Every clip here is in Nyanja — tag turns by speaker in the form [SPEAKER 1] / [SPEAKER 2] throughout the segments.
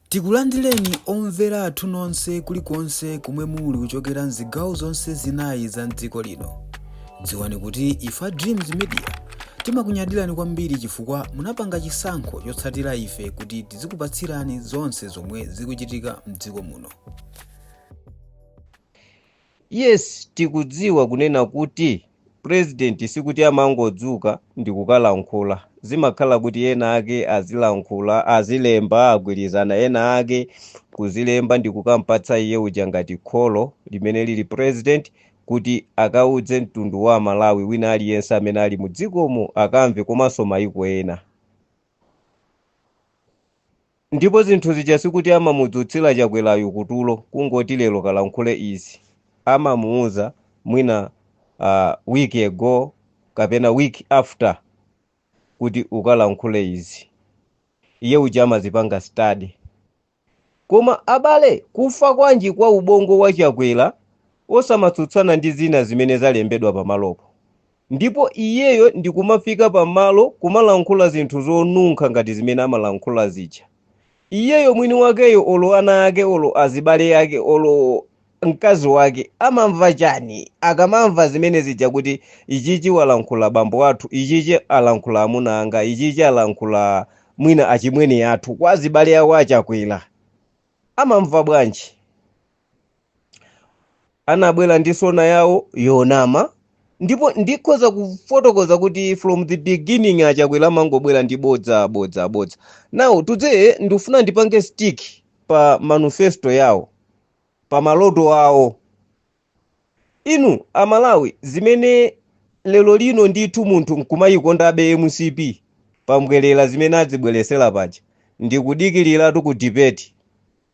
[SPEAKER 1] Tikulandireni omvera athu nonse kulikonse komwe muli kuchokera m'zigawo zonse zinayi za m'dziko lino. Dziwani kuti ife a Dreams Media timakunyadirani kwambiri chifukwa munapanga chisankho chotsatira ife kuti tizikupatsirani zonse zomwe zikuchitika m'dziko muno. Yes tikudziwa kunena kuti president sikuti amangodzuka ndikukalankhula zimakhala kuti ena ake azilankhula azilemba agwirizana ena ake kuzilemba ndikukampatsa iye uja ngati kholo limene lili president kuti akaudze mtundu wa amalawi wina aliyense amene ali mu dzikomo akamve komanso maiko ena Ndipo zinthu zija sikuti amamudzutsila chakwelayu kutulo kungoti lero kalankhule izi amamuuza mwina a week ago kapena week after kuti ukalankhule izi iye uja amazipanga study koma abale kufa kwanji kwa ubongo wa chakwela osamatsutsana ndi zina zimene zalembedwa pamalopo ndipo iyeyo ndikumafika pamalo kumalankhula zinthu zonunkha ngati zimene amalankhula zija iyeyo mwini wakeyo olo ana ake olo azibale ake olo mkazi wake amamva chani akamamva zimene zija kuti ichichi walankhula bambo athu ichichi alankhula amuna anga ichichi alankhula mwina achimwene athu kwa azibale ake a Chakwera amamva bwanji anabwera ndi sona yawo yonama ndipo ndikhoza kufotokoza kuti from the beginning achakwera amangobwera ndi bodza bodza bodza now today ndikufuna ndipange stick pa manifesto yawo pa maloto awo inu amalawi zimene lero lino ndithu munthu nkumayikondabe mcp pa mbwerera zimene adzibweretsera paja ndikudikiliratu ku debate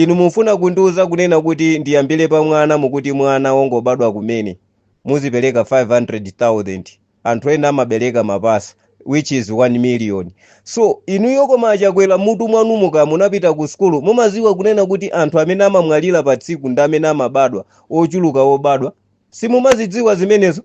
[SPEAKER 1] Inu mufuna kundiuza kunena kuti ndiyambile pa mwana mukuti mwana wongobadwa kumene muzipeleka 500,000 anthu ena amabeleka mapasa which is 1 million so inuyo koma achakwela mutu mwanumo ka munapita ku sukulu mumadziwa kunena kuti anthu amene amamwalila pa tsiku ndi amene amabadwa ochuluka obadwa simumazidziwa zimenezo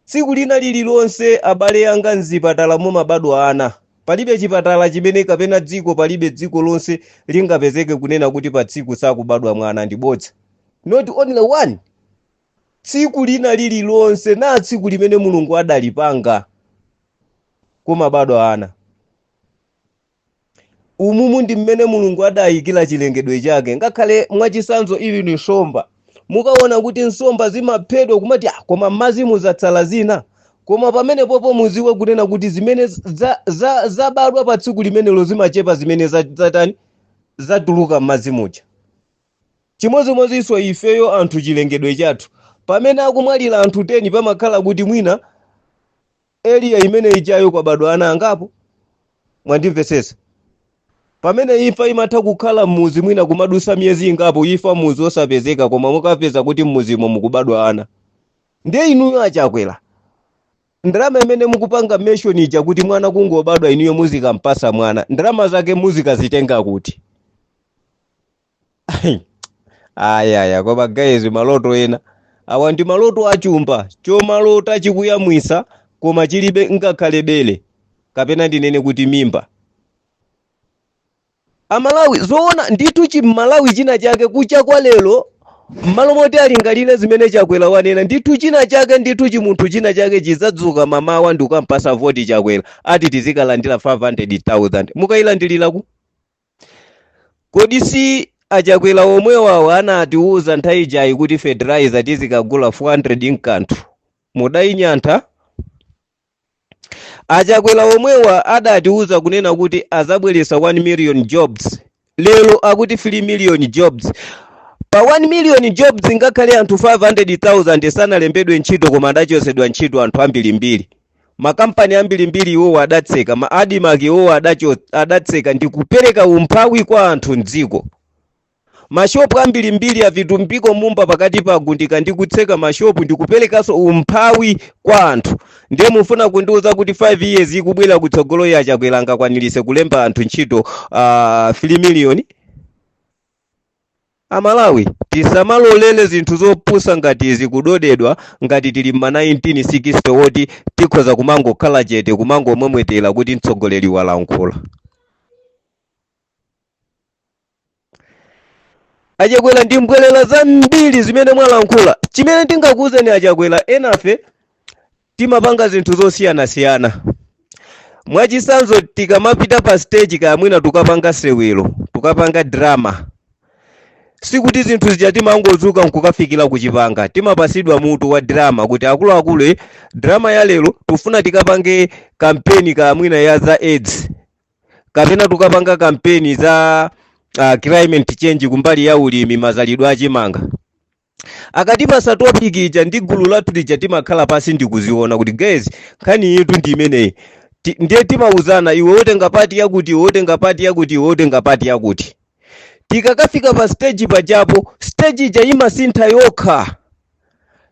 [SPEAKER 1] Tsiku lina lililonse, abale anga, mzipatala mumabadwa ana. Palibe chipatala chimene kapena dziko palibe dziko lonse lingapezeke kunena kuti pa tsiku sakubadwa mwana ndi bodza. Not only one. Tsiku lina lililonse na tsiku limene Mulungu adalipanga kumabadwa ana. umumu ndi mmene mulungu adayikira chilengedwe chake ngakhale mwachisanzo ili ni nsomba mukaona kuti nsomba zimaphedwa kumati "Ah, koma mmadzi muzatsala zina koma pamenepopo muziwe kunena kuti zimene za- za- zabadwa pa tsiku limenelo zimachepa zimene za- zatani zatuluka mmadzi muja chimodzimodzinso ifeyo anthu chilengedwe chathu pamene akumwalira anthu 10 pamakhala kuti mwina area imene ijayo kwabadwa ana angapo mwandimvetsetsa pamene imfa imatha kukhala mmuzi mwina kumadusa miyezi ingapo imfa mmuzi osapezeka koma mukapeza kuti mmuzimo mukubadwa ana ndiye inuyo achakwera ndalama imene mukupanga mention ija kuti mwana kungobadwa inuyo muzikampasa mwana ndalama zake muzikazitenga kuti ayaya koma guys maloto ena awa ndi maloto achumba chomalota chikuyamwisa koma chilibe ngakhale bele kapena ndinene kuti mimba amalawi zoona ndithu chimmalawi china chake kucha kwa lero mmalo moti alingalire zimene chakwera wanena ndithu china chake ndithu chimunthu china chake chizadzuka mamawa ndikukampasa voti chakwera ati tizikalandira 500000 mukayilandilira ku kodi si achakwera omwewawo anatiuza nthawi ijayi kuti fertilizer tizikagula 400 mkanthu mudayinyantha achakwera omwewa adatiuza kunena kuti azabweretsa 1 million jobs lero akuti 3 million jobs pa 1 million jobs ngakhale anthu 500000 sanalembedwe ntchito koma adachotsedwa ntchito anthu ambirimbiri makampani ambirimbiri iwowo adatseka ma admarc iwowo adacho- adatseka ndi kupereka umphawi kwa anthu mdziko mashopu ambirimbiri avitumbiko mumba pakatipa agundika ndi kutseka mashopu ndi kuperekanso umphawi kwa anthu ndiye mufuna kundiuza kuti 5 years ikubwera kutsogoloyi achakwera angakwanirise kulemba anthu ntchito uh, 3 million amalawi tisamalolele zinthu zopusa ngati izi kudodedwa ngati tili mma 1960 woti tikhoza kumangokhala chete kumangomwemwetera kuti mtsogoleri walankhula achakwera ndi mbwerera zambiri zimene mwalankhula chimene tingakuuzeni achakwera enafe timapanga zinthu zosiyanasiyana mwachisanzo tikamapita pa stage kaya mwina tukapanga sewelo tukapanga drama sikuti zinthu zija timangozuka nkukafikira kuchipanga timapasidwa mutu wa drama kuti akuluakulu eh, drama ya lero tufuna tikapange kampeni kaya mwina ya za aids kapena tukapanga kampeni za uh, climate change kumbali ya ulimi mazalidwe achimanga akatipasa topic ija ndi gulu lathu lija timakhala pansi ndikuziona kuti guys nkhani yitu ndi imeneyi ndiye timauzana iwe wotenga pati yakuti iwe wotenga pati yakuti iwe wotenga pati yakuti tikakafika pa stage pajapo stage ija imasintha yokha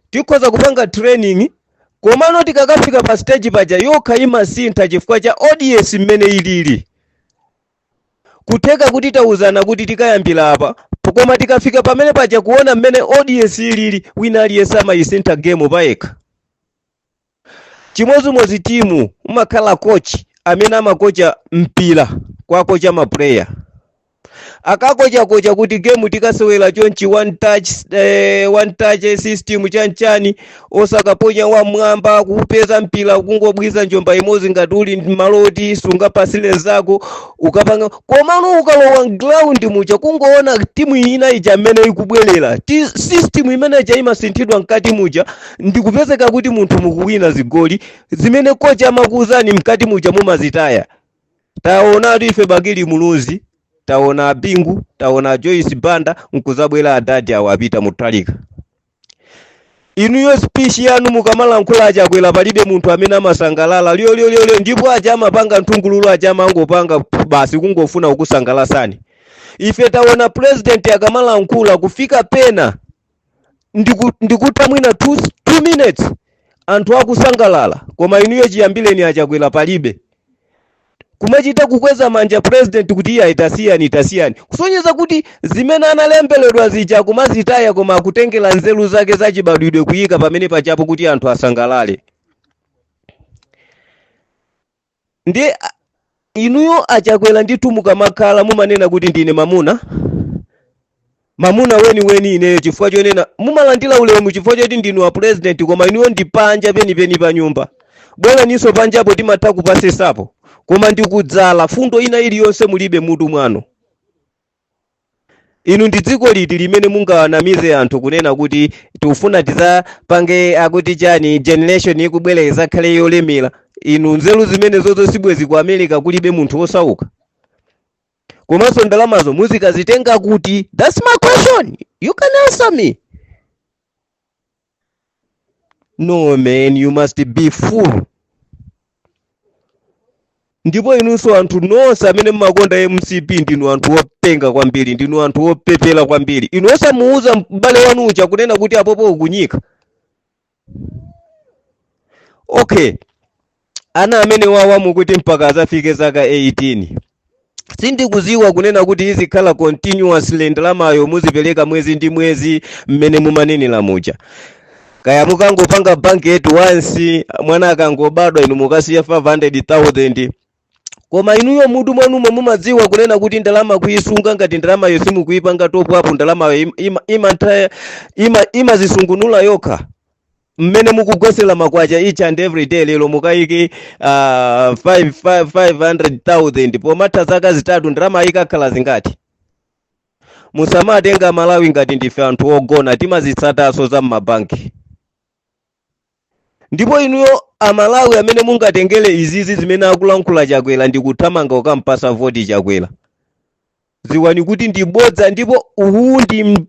[SPEAKER 1] tikhoza kupanga training komano tikakafika pa stage paja yokha imasintha chifukwa cha audience mmene ilili Kutheka kuti tauzana kuti tikayambila apa koma tikafika pamene paja kuona mmene audience ilili wina aliyense amayisintha game payekha. Chimodzimodzi timu umakhala coach amene amakocha mpira kwakocha ma player. Akakochakocha kuti game tikasewera chonchi one touch eh, one touch system chanchani osakaponya wamwamba kuupeza mpira kungobwiza njomba imodzi ngati uli m'malo oti sungapasire nzako ukapanga komano ukalowa mgiraundi muja kungoona timu ina ija mmene ikubwerera system imene ija imasinthidwa mkati muja ndikupezeka kuti munthu mukuwina zigoli zimene coach amakuuzani mkati muja mumazitaya taona ife bakili muluzi taona abingu taona joyce banda nkuzabwera adadi awo apita mutalika inuyo speech yanu mukamalankhula achakwera palibe munthu amene amasangalala lyolyolyolyo ndipo aja amapanga nthungululu aja amangopanga pff, basi kungofuna kukusangalasani ife taona president akamalankhula kufika pena ndikutha mwina 2 minutes anthu akusangalala koma inuyo chiyambireni achakwera palibe kumachita kukweza manja president kuti iye itasiyani itasiyani kusonyeza kuti zimene analembeledwa zija akumazitaya koma akutengera nzeru zake zachibadwidwe kuyika pamene pajapo kuti anthu asangalale ndiye inuyo achakwera ndithu mukamakhala mumanena kuti ndine mamuna Mamuna weni weni ineyo chifukwa chonena mumalandila ulemu chifukwa choti ndinu a president koma inuyo ndi panja peni peni pa nyumba bweleniso panjapo timatha kupasesapo koma ndi kudzala mfundo ina iliyonse mulibe mutu mwanu inu ndi dziko liti limene mungawanamize anthu kunena kuti tikufuna tizapange akuti chani generation ikubwera izakhale yolemera inu nzeru zimenezozo sibwezi ku america kulibe munthu wosauka komanso ndalamazo muzikazitenga kuti thats my question you can answer me no man you must be fool ndipo inunso anthu nonse amene mmakonda mcp ndinu anthu openga kwambiri ndinu anthu opepera kwambiri inu osamuuza m'bale wanu uja kunena kuti apopo ukunyika okay ana amene awa mukuti mpaka azafike zaka 18 sindikuziwa kunena kuti izikhala continuously ndalamayo muzipereka mwezi ndi mwezi mmene mumanenera muja kaya mukangopanga bank at once mwana akangobadwa inu mukasiya 500000 koma inuyo mutu mwanumo mumadziwa kunena kuti ndalama kuyisunga ngati ndalamayo simukuyipanga top up ndalamayo im- ima- imantha- ima- imazisungunula yokha mmene mukugwesera ma kwacha each and every day lero mukayike uh, 500000 pomatha zaka zitatu ndalama ikakhala zingati musamatenga malawi ngati ndife anthu ogona timazitsatanso za mmabanki Ndipo inuyo a Malawi amene mungatengere izizi zimene akulankhula Chakwera ndi kuthamanga kukampasa voti Chakwera, dziwani kuti ndi bodza ndipo uwu ndi m-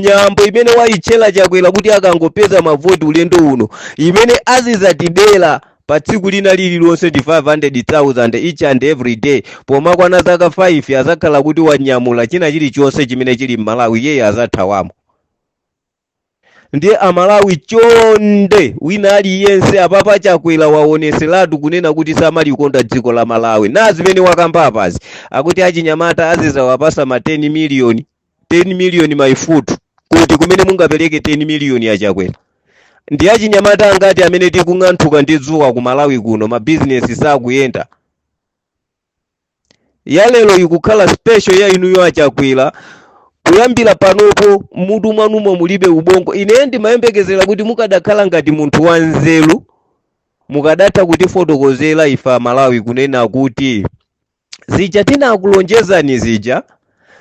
[SPEAKER 1] nyambo imene wayitchera Chakwera kuti akangopeza mavoti ulendo uno, imene azizatibera pa tsiku lina lililonse ndi 500,000 each and every day pomakwana zaka 5 azakhala kuti wanyamula china chilichonse chimene chili m'Malawi iyeyo azathawamo. ndiye amalawi chonde wina aliyense apapa chakwera waoneseratu kunena kuti samalikonda dziko la malawi ndi zimene wakamba apazi akuti achinyamata azizawapasa ma 10 miliyoni 10 miliyoni maifutu kuti kumene mungapereke 10 miliyoni ya chakwera ndi achinyamata angati amene tikung'anthuka ndi dzuwa ku malawi kuno mabizinesi sakuyenda ya lero ikukhala special ya inuyo achakwera kuyambira panopo mutu mwanumo mulibe ubongo ine ndimayembekezera kuti mukadakhala ngati munthu wanzeru mukadatha kutifotokozera ife amalawi kunena kuti zija tinakulonjezani zija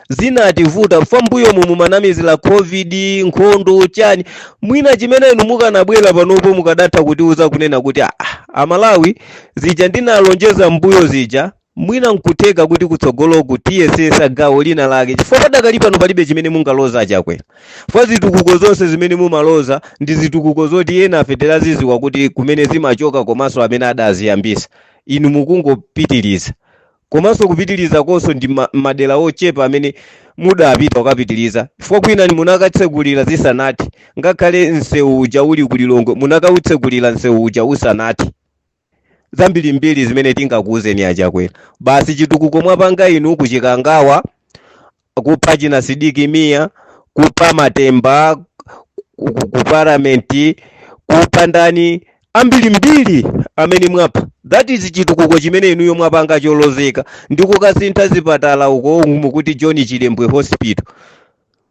[SPEAKER 1] zinativuta chifukwa mbuyomu mumanamizira covid nkhondo chani mwina chimene inu mukanabwera panopo mukadatha kutiuza kunena kuti "Ah, amalawi zija ndinalonjeza mbuyo zija mwina nkutheka kuti kutsogoloku tiyesesa gawo lina lake chifukwa padakali pano palibe chimene mungaloze achakwera chifukwa zitukuko zonse zimene mumaloza ndi zitukuko zoti enafe timaziziwa kuti kumene zimachoka komanso amene adaziyambisa inu mukungopitiriza komanso kupitilizakonso ndi ma- madera ochepa amene mudapita kukapitiliza chifukwa kwinaku munakatsegulira zisanathe ngakhale msewu uja uli ku lilongwe munakautsegulira msewu uja usanathe zambirimbiri zimene tingakuwuzeni achakwera basi chitukuko mwapanga inu kuchikangawa kupha china sidik mia kupha matemba ku- ku- ku parliament kupha ndani ambiri mbiri amene mwapha that is chitukuko chimene inuyo mwapanga cholozeka ndi kukasintha zipatala uko mukuti john chilembwe hospital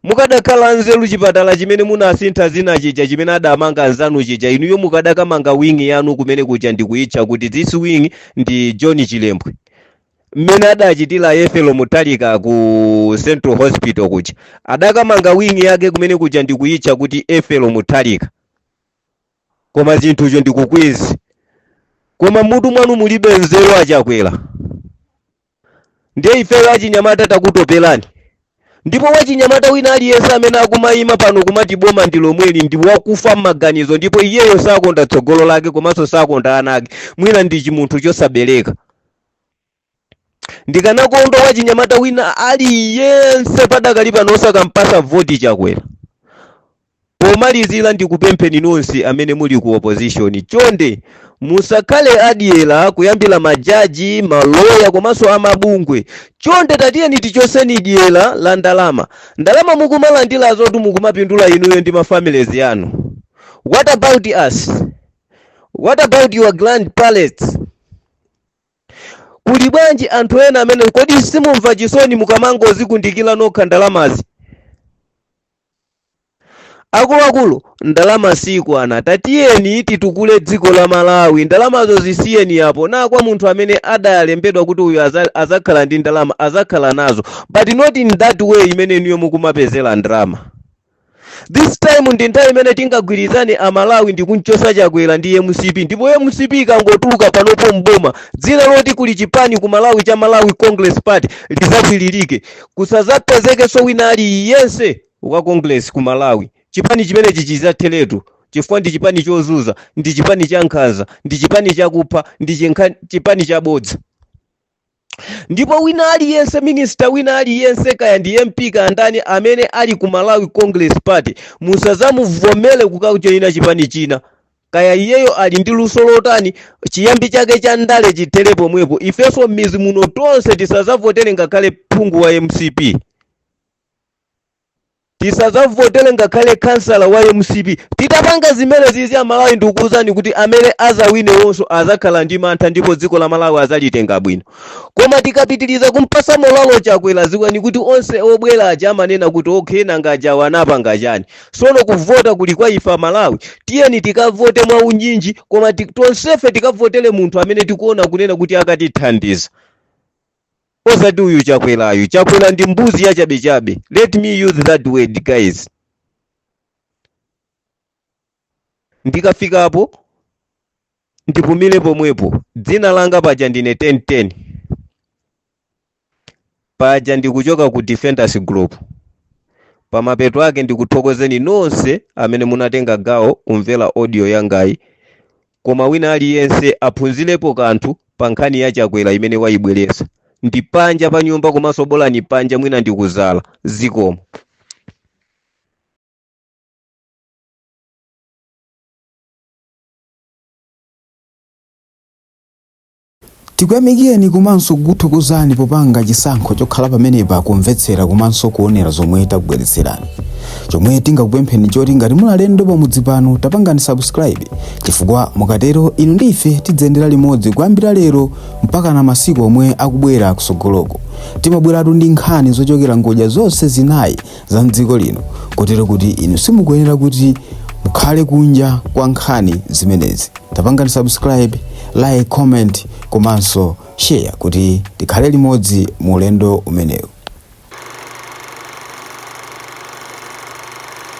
[SPEAKER 1] mukadakhala nzeru chipatala chimene munasintha dzina chija chimene adamanga anzanu chija inuyo mukadakamanga wing yanu kumene kuja ndikuitcha kuti this wing ndi john chilembwe mmene adachitira ethel mutharika ku central hospital kuja adakamanga wing'i yake kumene kuja ndikuyitcha kuti ethel mutharika koma zinthuzo ndikukuuzani koma mutu mwanu mulibe nzeru achakwera ndiye ifeyo achinyamata takutoperani ndipo wachinyamata wina aliyense amene akumayima pano kumati boma ndi lomweli ndi wakufa m'maganizo ndipo iyeyo sakonda tsogolo lake komanso sakonda ana ake mwina ndi chimunthu chosabereka ndikanakondwa wachinyamata wina aliyense padakali pano osakampasa voti chakwera pomalizira ndikupempheni nonse amene muli ku opposition chonde musakhale adyera kuyambira majaji maloya komanso amabungwe chonde tatiyeni tichoseni dyera la ndalama ndalama mukumalandira zoti mukumapindula inuyo ndi mafamilies yanu what about us what about your grand parents kuli bwanji anthu ena amene kodi simumva chisoni mukamangozikundikira nokha ndalamazi akuluakulu ndalama sikwana tatiyeni titukule dziko la malawi ndalamazo zisiyeni apo na kwa munthu amene adalembedwa kuti uyu aza- azakhala ndi ndalama azakhala nazo but not in that way imene inuyo mukumapezera ndalama this time ndi nthawi imene tingagwirizane amalawi ndi kumchosa chakwera ndi mcp ndipo mcp ikangotuluka panopo mboma dzina loti kuli chipani ku malawi cha malawi congress party lizakwilirike kusazapezekenso wina aliyense wa congress ku malawi chipani chimenechi chizatheretu chifukwa ndi chipani chozuza ndi chipani cha nkhanza ndi chipani chakupha ndi chinkha- chipani chabodza ndipo wina aliyense minista wina aliyense kaya ndi mp kaya ndani amene ali ku malawi congress party musazamuvomere kukajoyina chipani china kaya iyeyo ali ndi luso lotani chiyambi chake cha ndale chithere pomwepo ifenso m'mizi muno tonse tisazavotere ngakhale phungu wa mcp tisazavotele ngakhale khansala wa mcp titapanga zimenezizi amalawi ndikukuuzani kuti amene azawinewonso azakhala ndi mantha ndipo dziko la malawi azalitenga bwino koma tikapitiliza kumpasa molalo chakwera ziwani kuti onse obwera aja amanena kuti okay nanga ajawo anapanga chani sono kuvota kuli kwa ife amalawi tiyeni tikavote mwa unyinji koma ti- tonsefe tikavotele munthu amene tikuona kunena kuti akatithandiza osati uyu chakwerayu chakwera ndi mbuzi yachabechabe let me use that word guys ndikafikapo ndipumire pomwepo dzina langa paja ndine 1010 paja ndikuchoka ku defenders group pamapeto ake ndikuthokozeni nonse amene munatenga gawo kumvera audio yangayi koma wina aliyense aphunzilepo kanthu pa nkhani ya chakwera imene wayibweretsa ndi panja pa nyumba komanso bolani panja mwina ndikuzala zikomo Tikuyamikireni komanso kukuthokozani popanga chisankho chokhala pamenepa kumvetsera komanso kuonera zomwe takubweretserani. Chomwe tingakupempheni nchoti ngati muli alendo pamudzi pano tapangani subscribe chifukwa mukatero inu ndi ife tidziyendera limodzi kuyambira lero mpakana masiku omwe akubwera kusogoloko. Timabweratu ndi nkhani zochokera ngodya zonse zinayi za mdziko lino kotero kuti inu simukuyenera kuti mukhale kunja kwa nkhani zimenezi tapangani subscribe like comment komanso share kuti tikhale limodzi mu ulendo umenewu